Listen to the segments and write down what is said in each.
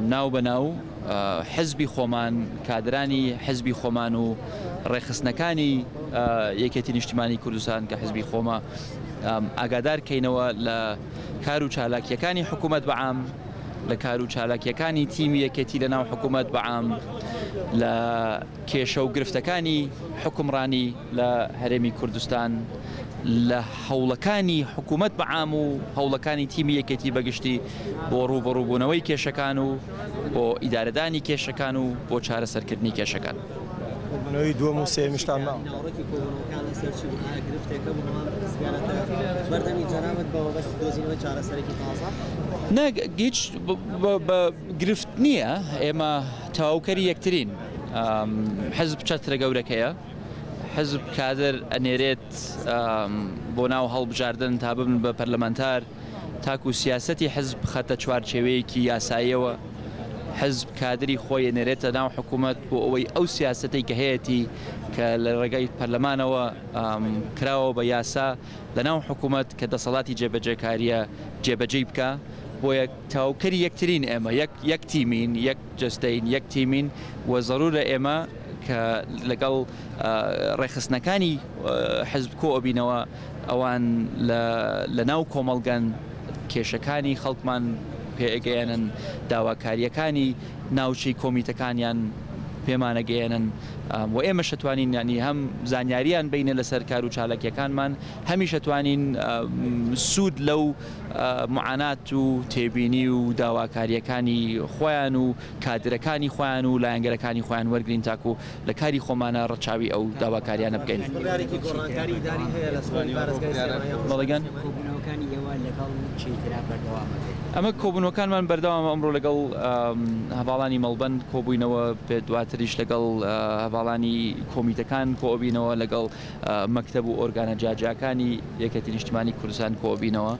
ناو بە ناو حزبی خۆمان، کادرانی حزبی خۆمان و ڕێکخستنەکانی یەکێتی نیشتیمانی کوردستان کە حزبی خۆمە ئاگادار کەینەوە لە کار و چالاکیەکانی حکوومەت بەعام لە کار و چالاکیەکانی تیمی یەکێتی لە ناو حکوومەت بەعام لە کێشە و گرفتەکانی حوکمڕانی لە هەرێمی کوردستان لە هەوڵەکانی حکوومەت بە عام و هەوڵەکانی تیمی یەکێتی بەگشتی بۆ ڕووبەڕووبوونەوەی کێشەکان و بۆ ئیدارەدانی کێشەکان و بۆ چارەسەرکردنی کێشەکان. بوونەوەی دووەم و سێمیشتان ماوە. ناوەڕۆکی کۆبوونەوەکان لەسەر چی بوو؟ ئایا گرفتێکە بوو نەوە پرسیارەکە بەردەمی جەنابت بە مەبەستی دۆزینەوەی چارەسەرێکی تازە؟ نا، هیچ گرفت نییە ئێمە تەواوکەری یەکترین. حزب چەترە گەورەکەیە. حزب کادر ئەنێرێت بۆ ناو هەڵبژاردن تا ببن بە پەرلەمانتار، تاکو سیاسەتی حزب بخەتە چوارچێوەیەکی یاساییەوە. حزب کادری خۆی ئەنێرێتە ناو حکومەت بۆ ئەوەی ئەو سیاسەتەی کە هەیەتی کە لە ڕێگای پەرلەمانەوە کراوە بە یاسا لە ناو حکومەت کە دەسەڵاتی جێبەجێکارییە جێبەجێی بکا. بۆیە. تەواوکەری یەکترین ئێمە یەک یەک تیمین یەک جەستەین یەک تیمین و زەرورە ئێمە کە لەگەڵ ڕێخستنەکانی حزب کۆ ئەبینەوە ئەوان لە ناو کۆمەڵگەن کێشەکانی خەڵکمان پێگەیەنن داواکاریەکانی ناوچەی کۆمیتەکانیان پێمانەگەیەنن و ئێمە شەتوانین ینی هەم زانیاریان بینە لەسەر کار و چاالکیەکانمان هەمیشەتوانین سوود لەو معانات و تێبینی و داواکارییەکانی خۆیان و کادرەکانی خۆیان و لایەنگرەکانی خۆیان وەرگرین تاکو لە کاری خۆمانا ڕەچاوی ئەو داواکاریانە بکەین. ئەمە کۆبونەوەکانمان بەردەوامە ئەمڕۆ لەگەڵ هەڤاڵانی مەڵبەند کۆبووینەوە پێ دواتریش لەگەڵ هەڤاڵانی کۆمیتەکان کۆبینەوە لەگەڵ مەکتەب و ئۆرگانە جیاجیاکانی یەکێتی نیشتمانی کوردستان کۆبینەوە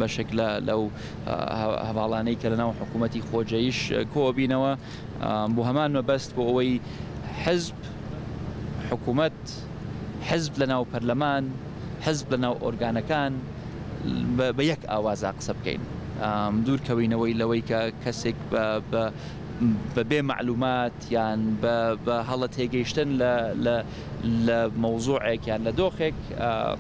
بەشێک لە لەو هەواڵانەی کە لەناو حکوومەتی خۆجەیش کۆبینەوە بۆ هەمان مەبەست بۆ ئەوەی حزب حکوومەت حزب لەناو پەرلەمان حزب لەناو ئۆرگانەکان بە یەک ئاوازا قسە بکەین دوورکەوینەوەی لەوەی کە کەسێک بە بە بەبێ معلومات یان بە بە هەڵە تێگەیشتن لە لە لە مەوزوعێک یان لە دۆخێک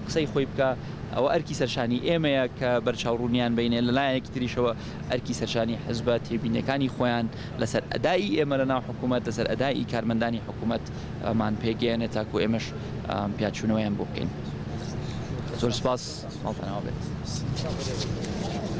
قسەی خۆی بکە ئەوە ئەرکی سەرشانی ئێمەیە کە بەرچاوڕوونیان بینێ لە لایەکی تریشەوە ئەرکی سەرشانی حزبە تێبینەکانی خۆیان لەسەر ئەدای ئێمە لە ناو حکوومەت لەسەر ئەدای کارمەندانی حکوومەت ئەمان پێگەیەنێت تاکو ئێمەش پیاچوونەوەیان بۆ بکەین زۆر سپاس ماڵتەناو بێت.